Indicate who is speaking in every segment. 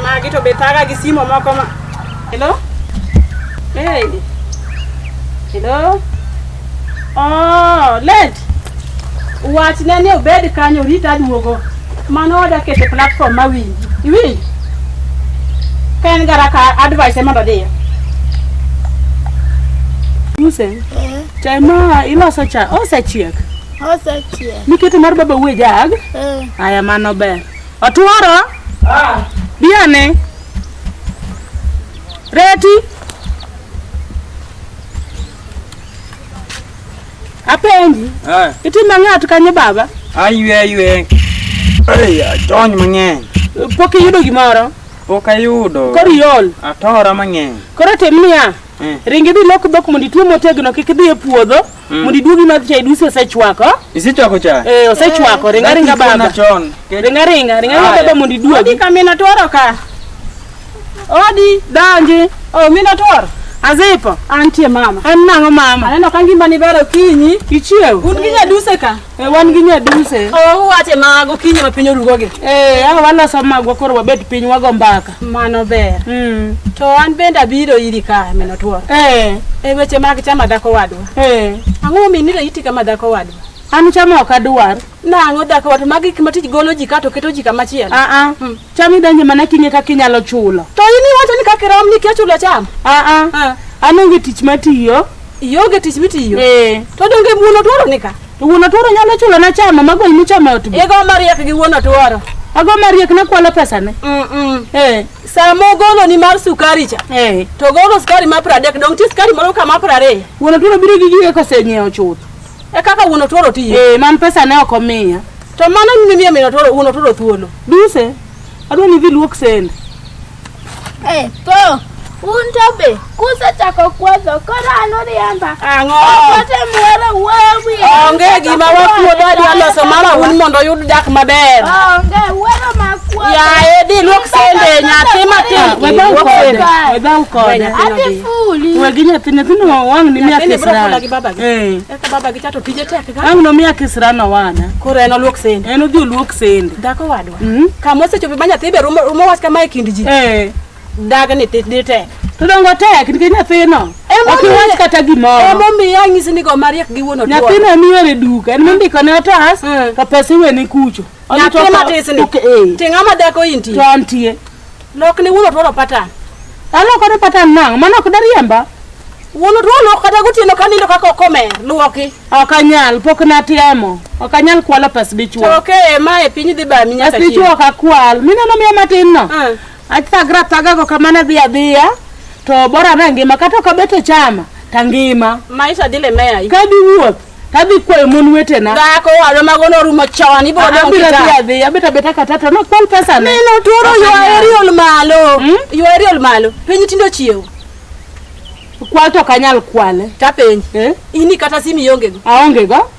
Speaker 1: Magi to be thaga gi simo moko ma. Hello? Hey. Hello? Oh, Lent. Wachne ni obed kanyo rita duogo. Mano oda kete platform ma winji. Iwinji? Ka en gara ka advice mondo dhiyo. Muse, chai ma iloso cha osechiek. Osechiek.
Speaker 2: Niketo mar baba uwe
Speaker 1: jag? Eh. Aya mano ber. Otuoro? Ah. Biane. Reti. Apenji. Ah. Itimo ng'at kanyo baba? Aywe aywe.
Speaker 3: Ei, ajony mang'eny. Pok iyudo
Speaker 1: gimoro? Pok ayudo.
Speaker 3: Koro iol?
Speaker 1: Atora mang'eny.
Speaker 3: Koro tim niya.
Speaker 1: Eh. Ringi dhi lok dhok mondo itwe motegno kik idhi e puodho. Mm. Mondo iduogi madh chai dusi osechwako. Isechwako cha?
Speaker 3: Eh, osechwako. Eh, ringa
Speaker 1: ringa baba. Ringa ringa, ringa ringa baba mondo iduogi. Odi kamina tworo ka. Odi danji. Oh, mina tworo. Azipo. Antie mama. An nang'o mama? Aneno ka ngima ni bero kinyi. Ichiew. Un gi nyaduse ka. Eh, wan gi nyaduse. Oh, uwache mago kinyi ma piny orugogi. Eh, awa waloso magwa koro wabet piny wago mbaka. Mano ber. Mm. To an bende abiro iri ka mino tuo. Eh. E weche mag chama dhako wadwa. Eh. Ang'o minire iti kama dhako wadwa? An chama ok adwar. Nang'o dhako wadwa magi kima tij golo ji ka to keto ji kama chielo. Ah ah. Hmm. Cham idonje mana king'e kaka inyalo chulo. To in iwacho ni kaka irom ni kia chulo cham. Ah ah. Ah. An onge tich matiyo. Ionge tich mitiyo. Eh. To donge wuon otuoro ni ka? To wuon otuoro nyalo chulo na chama mago imi chama ot. Igo mariek gi wuon otuoro. Ago mariek na kwalo pesa ne. Mm. -mm. Eh. Samo golo ni mar sukari cha. Eh. To golo sukari ma 30 dong ti sukari moro kama 20. Wuon otuoro biro gi giye kosenyiewo chuth. E kaka wuon otuoro tiyo. Eh, man pesa ne ok omiya. To mano ni miyo min otuoro wuon otuoro thuolo. Duse, adwa ni idhi luok sende. Eh, po.
Speaker 2: Un to be kusechako kuodho koro an uriemba. Ang'o? Okote
Speaker 1: muoro
Speaker 2: wuoyo wiye. Onge gima
Speaker 1: wakuodho adwa loso mara un mondo oyud dak maber. Onge wuoro
Speaker 2: ma kuodho. Yaye, dhi luok
Speaker 1: sende nyathi matin. Webau Luok sende. kode. Webau kode. Adhi
Speaker 2: Wegi nyathi nyithindo
Speaker 1: wang' ni miya kisirano. Eh. Eka
Speaker 3: baba
Speaker 1: gi chato tije tek ga. Wang' no miya kisirano
Speaker 3: wana. Koro en oluok sende.
Speaker 1: En odhi oluok sende.
Speaker 3: Dhako wadwa. Hmm?
Speaker 1: Kama osechopo ma nyathi be rumo rumo wach kama e kind ji. Eh. Dag ni tit ni tek. To dongo tek
Speaker 3: nikech nyathino. Ok iwach kata gimoro. Ema omiyo anyisi ni go
Speaker 1: mariek gi wuon otuo. Nyathino en yore duka.
Speaker 3: En mondiko ne otas hmm. to pesa iwene kucho. Nyathi matis
Speaker 1: ni. Eh. Ting'a ma dhako intie. To antie.
Speaker 3: Lok ni wuon
Speaker 1: otworo patan. Aloko ne
Speaker 3: patan nang', mano ok dariemba. Wuon otworo
Speaker 1: kata gotieno ka nindo kaka okomer, luoki. Ok anyal,
Speaker 3: pok natemo. Ok anyal kwalo pes dichwo. To okay, ma e piny
Speaker 1: dhi bami nyaka Pes dichwo ok akwal.
Speaker 3: Mineno miya matin no. Ah. Athagra athaga go kamano adhi adhiya. To bora na ngima kata ok abet e chama, tangima. Maisha dhi lemeya.
Speaker 1: Ka diwuoth.
Speaker 3: Tadhi kwayo mon wetena. Dhako walo mago
Speaker 1: norumo chon ibiro ah, dong' kita. Abiro adhi abet abeta kata
Speaker 3: to no kwal pesa ne. Neno tuoro yo aeriol
Speaker 1: malo. Hmm? Yo aeriol malo. Piny tindo chiew.
Speaker 3: Kwal to kanyal kwale. Ta penj. Eh?
Speaker 1: Ini kata simi yonge go. Aonge go.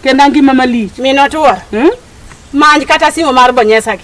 Speaker 3: Kenda ngima malich. Mino tuoro.
Speaker 1: Hmm? Manj kata simo mar bonyesa gi.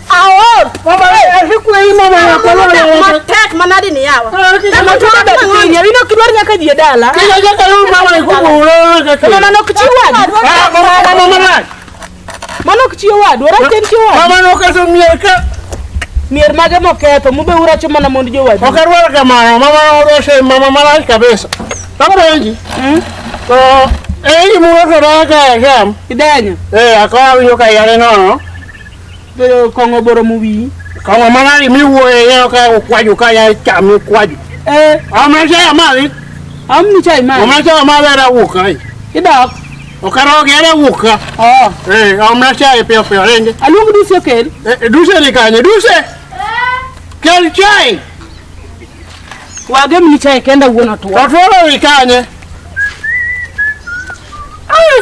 Speaker 1: mier mage moketho mube uracho mana mond jowadu ok arwar kamano mama
Speaker 4: odoshe mama marach kabisa takorenji hmm? to eyi murotoraka jam idenyo ee eh,
Speaker 1: akawawinjo ka
Speaker 4: yare nono Bedo
Speaker 1: kong'o boro mu wi. Kong'o mana ni
Speaker 4: mi wuo e yo ka kwaju ka ya chami kwaju. Eh, amna cha ya mali. Amni cha ya mali.
Speaker 1: Amna cha ya mali
Speaker 4: era wuka. Idak. Okaro ge era wuka. Oh. Eh, amna cha ya pio pio renge. Alugu duse kel.
Speaker 3: Eh, duse ni kanye
Speaker 4: duse. Kel chai.
Speaker 3: Wage mni chai kenda uona tuwa. Tatuwa wikanye.
Speaker 4: Ay.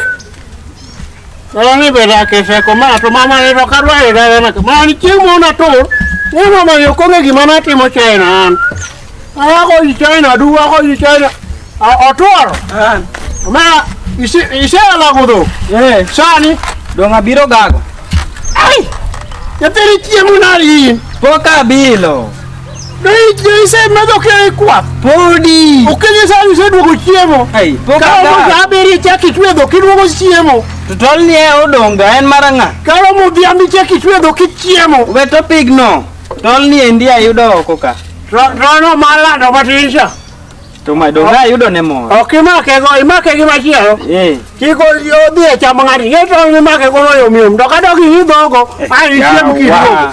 Speaker 4: Ela ni beda ke se ko ma to mama ni ro ka dwa e da na ka ma ni chi mo na tur. Ni mama yo ko ngi ma na ti mo chai na an. Ala ko i chai na du ko i chai na. A o tur. An. Ma isi isi ala ko do. Eh, sani do nga biro
Speaker 5: gago. Ai.
Speaker 4: Ya teri chi mo na ri. Poka bilo. Isemedho kei kwath. Podi.
Speaker 5: Okenye sa
Speaker 4: iseduogo chiemo. Ai, pok Kawo adar. moja
Speaker 5: abiri
Speaker 4: chak itwedho kiduogo chiemo. To tol ni e
Speaker 5: odonga en mar ang'a? Kawo modhiambi
Speaker 4: chak itwedho kichiemo. We to pigno.
Speaker 5: Tol ni endi ayudo oko ka. Ro- Rono
Speaker 4: malando matin cha. To ma
Speaker 5: donga ayudo ne moro. Ok imake go, imake
Speaker 4: gi machielo. Eh. Kiko odhi e chamo ng'ato. Ye tong' imake go yom yom. To ka dog iidhogo, ai ichiem kiduogo. Yawa.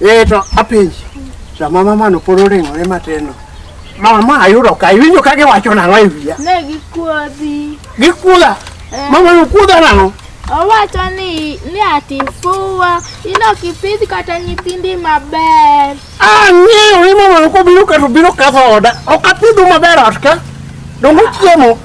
Speaker 4: Ee to apenji, sama mamano pod oring'ore mateno, mama ayudo ka iwinjo ka giwacho nang'o e wiya? Ne gikuodhi.
Speaker 2: Gikuodha?
Speaker 4: Eh. Mama nokuodha nang'o? Owacho ni
Speaker 2: ni ati fuwa, inok ipidh kata nyithindi maber. Ang'eyo
Speaker 4: ni mama nokobiro ka to biro kadho oda, ok apidhu maber ot ka, donge chiemo.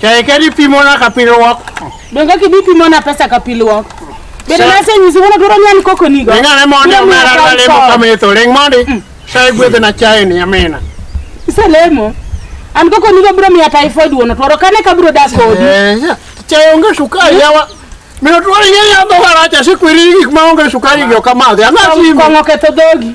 Speaker 4: Chai kadi pimona ka pilwok. Donge kidi
Speaker 3: pimona pesa ka pilwok. Bende na se nyisi wono dwaro nyan koko nigo. Ringa ne mondi omera
Speaker 4: na lemo kama itho. Ring mondi. Mm. Chai gwedhe na chai ni amina. Ise lemo.
Speaker 3: An koko nigo bro miya typhoid wono twaro kane ka bro da kodi. Eh, chai onge
Speaker 4: sukari mm. yawa. Mino twari yeye adho waracha sikwiri gik ma onge sukari gi okamadhi. Ang'o simi? Kong'o ketho
Speaker 3: dhogi.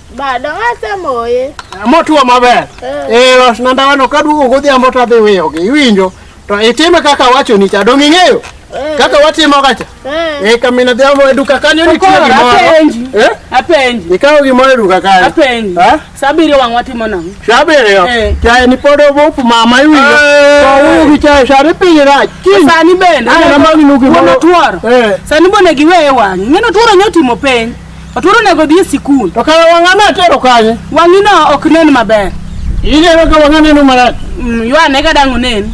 Speaker 4: Bado
Speaker 2: asemoye. Eh, motuo maber.
Speaker 4: Eh, eh los nandawano ka duogo godhiambo to adhi wiyogi. Iwinjo? To itime kaka wacho ni cha dong' ing'eyo? Eh. Kaka watimo kacha. Eh, kamina dhiambo e duka kanyo nitie gimoro. Apenji. Eh? Apenji.
Speaker 3: Ikawo gimoro e duka
Speaker 4: kanyo. Apenji. Ha? Sabiri
Speaker 3: wang' watimo nang'o? Sabiri yo. Eh. Chae
Speaker 4: ni pod obop mama iwinjo. Eh. To wugi chae sari piny rach. Kiny. Sani bende.
Speaker 3: Ana magi nugi. Wono tuoro. Eh. Sani bende giweye wang'i. Ng'eno tuoro nyotimo piny. Otur onego odhi e sikul. To kara wang'ane atero
Speaker 4: kanye? Wang'ino ok nen
Speaker 3: maber. Ineno ka wang'a
Speaker 4: neno marach. Mm, Ywane ka dang'
Speaker 3: onen.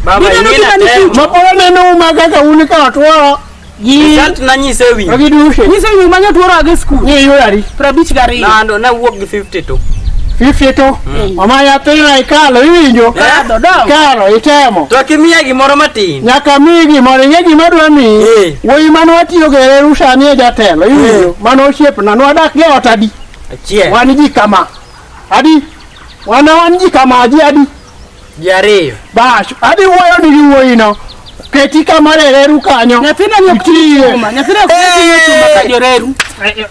Speaker 3: Baba Biro ing'e
Speaker 5: nokina ni natemo. Mapolo neno uma
Speaker 4: kaka un ka otworo. Gi Result
Speaker 5: nanyise e wi. gi dushe. Nyiso ni
Speaker 4: manyo tuoro
Speaker 3: age e sikul. Ni yura ri. Prabich
Speaker 4: gariyo. Nando
Speaker 3: nawuok gi
Speaker 5: 50 to. Fifty to.
Speaker 4: Mama yathina ikalo iwinjo. Kadho dong. Ikalo itemo. To kimiya gimoro
Speaker 5: matin. Nyaka miyi gimoro
Speaker 4: ing'e gima dwa miyi. Eh. Wuoyi mane watiyo go e reru sani e jatelo, iwinjo? Mano osiepna, nwadak e ot adi? Achiel. Wan ji kama. Adi? Wana wan ji kama, ji adi? Ji ariyo.
Speaker 5: Bash, adi
Speaker 4: wuoyo ni gi wuoyino. Keti kama e reru kanyo. Nyathina ni ok Itiye. chuma.
Speaker 3: Nyathina ok chuma ka joreru.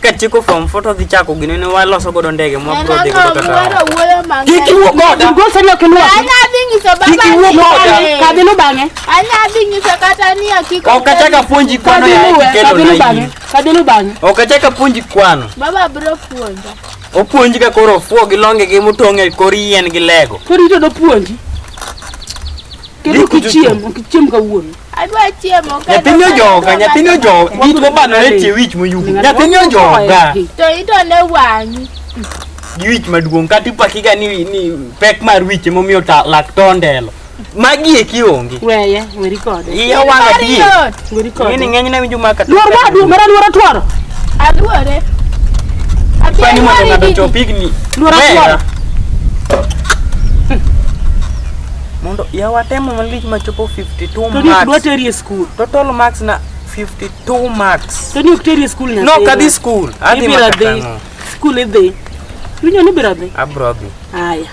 Speaker 5: katieko form four to dhi chako gine ne waloso godo ndege mwa bro dhi godo kata kik iwuo
Speaker 3: goda go sani ok iluwa anya dhi nyiso baba
Speaker 2: kik iwuo goda
Speaker 3: ka dhi no bang'e anya dhi nyiso
Speaker 2: kata ni akiko ok achaka puonji kwano
Speaker 5: ya kelo na bang'e ka dhi no bang'e ok
Speaker 3: achaka puonji
Speaker 5: kwano baba bro
Speaker 2: puonja opuonji ka koro
Speaker 5: fuo gi longe gi mutong'e kor yien gi lego koro ito do puonji
Speaker 3: kendo kichiem kichiem kawuono Adwa chiemo
Speaker 2: ka nyathini ojoga nyathini
Speaker 5: ojoga git mobano ne tie wich moyugo nyathini ojoga to ito ne
Speaker 2: wang'i gi wich
Speaker 5: maduong' kata ipakiga ni, ni pek mar wich emomiyo ta lak to ondelo magi eki onge weye weri kode
Speaker 3: iya wanga die Mariot,
Speaker 5: weri kode ng'eni ng'eny
Speaker 3: ne winjo maka
Speaker 5: luor wa duong mara luor
Speaker 3: atwaro
Speaker 2: aluore
Speaker 5: pani mondo ng'ato chop higni Luor Wera.
Speaker 3: atwaro.
Speaker 5: mondo yawa temo malich machopo 50 52 Tony ok dwa marks. teri e
Speaker 3: skul.
Speaker 5: Total
Speaker 3: marks na 52
Speaker 5: marks. Tony ok teri e skul nyathi.
Speaker 3: No, kadhi skul. Adhi
Speaker 5: Ibiro dhi. makatano.
Speaker 3: Skul idhi. Winjo ni ibiro dhi. Abro dhi. Aya.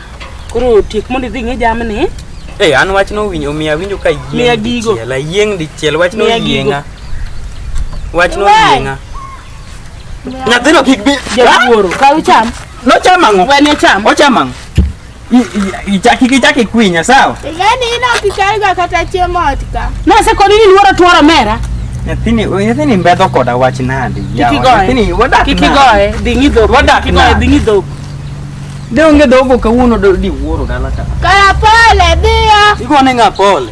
Speaker 3: Koro tiek mondo idhi ng'e jamni. Hey, an wach no
Speaker 5: winjo miya winjo ka Miya yieng gigo. dichiel. Ayieng dichiel wach no Miya gigo. yienga. Wach no Why? yienga. Nyathino kik bi. Jawuoro. Kaw
Speaker 3: cham. Nochamo ang'o? Wen
Speaker 5: cham. Ochamo ang'o? Ichaki kichaki kwinya sawa? Yaani ina kichaiga
Speaker 2: kata chiemo otka. Na se kwa nini niwara
Speaker 3: tuwara mera? Nyathini nyathini
Speaker 5: mbedho koda wach nadi. Nyathini wadak.
Speaker 3: Kikigoe dingi dhok. Wadak kikigoe dingi
Speaker 5: dhok. De onge
Speaker 2: dhogo
Speaker 5: kawuono di wuoro dala
Speaker 2: ka.
Speaker 5: Kara pole dhiyo.
Speaker 2: Igone
Speaker 5: ng'a pole.